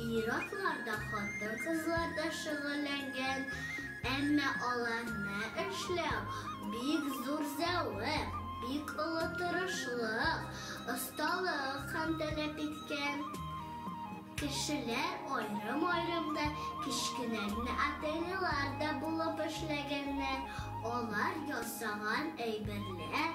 Ир-атлар да, хатын-кызлар да шөгыльләнгән, әмма аларны эшләү, бик зур зәвык, бик олы тырышлык, осталык һәм таләп иткән. Кешеләр аерым-аерым да, кечкенә генә ательелар да булып эшләгәннәр, алар ясаган әйберләр,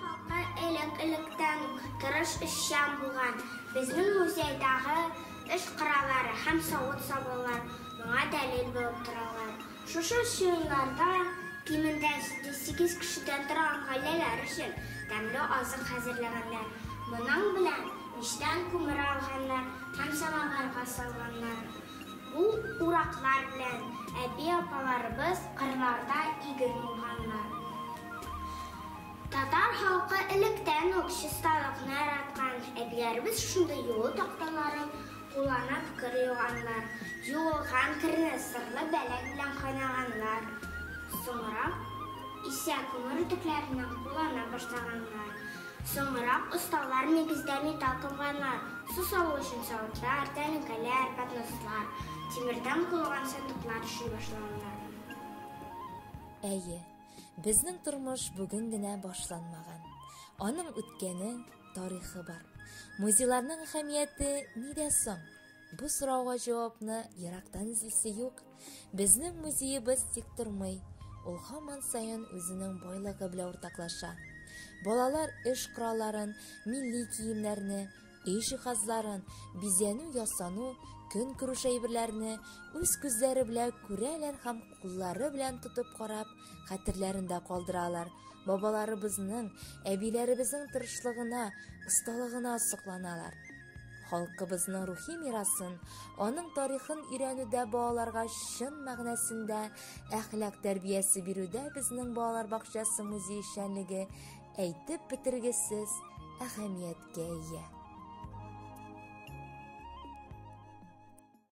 Хакы элек-электән үк тырыш эшчән булган безнең музейдагы эш кораллары һәм савыт-сабалар моңа дәлил булып торалар. Шушы чыгымнарда кимендә 708 кешедән торган гаиләләр өчен тәмле азык хәзерләгәннәр, моның белән мичтән күмер алганнар һәм самавырга салганнар. Бу ураклар белән әби-апаларыбыз кырларда иген урганнар. Татар халкы электән үк чисталыкны яраткан. Әбиләребез шундый юу такталарын кулланып кыр юганнар. Юылган керне сырлы бәләк белән кайнаганнар. Соңрак исә күмер үтекләреннән куллана башлаганнар. Соңрак осталар нигездә металл комганнар, су салу өчен савытлар, тәлинкәләр, поднослар, тимердән корылган сандыклар эшли башлаганнар. Әйе, безнең тормыш бүген генә башланмаган. Аның үткәне, тарихы бар. Музейларның әһәмияте нидә соң? Бу сорауга җавапны ерактан эзлисе юк. Безнең музеебыз тик тормый, ул һаман саен үзенең байлыгы белән уртаклаша. Балалар эш коралларын, милли киемнәрне, өй җиһазларын, бизәнү-ясану, көнкүреш әйберләрне үз күзләре белән күрәләр һәм куллары белән тотып карап, хәтерләрендә калдыралар. Бабаларыбызның, әбиләребезнең тырышлыгына, осталыгына сокланалар. Халкыбызның рухи мирасын, аның тарихын өйрәнүдә балаларга чын мәгънәсендә әхлак тәрбиясе бирүдә безнең балалар бакчасы музей эшчәнлеге әйтеп бетергесез әһәмияткә ия.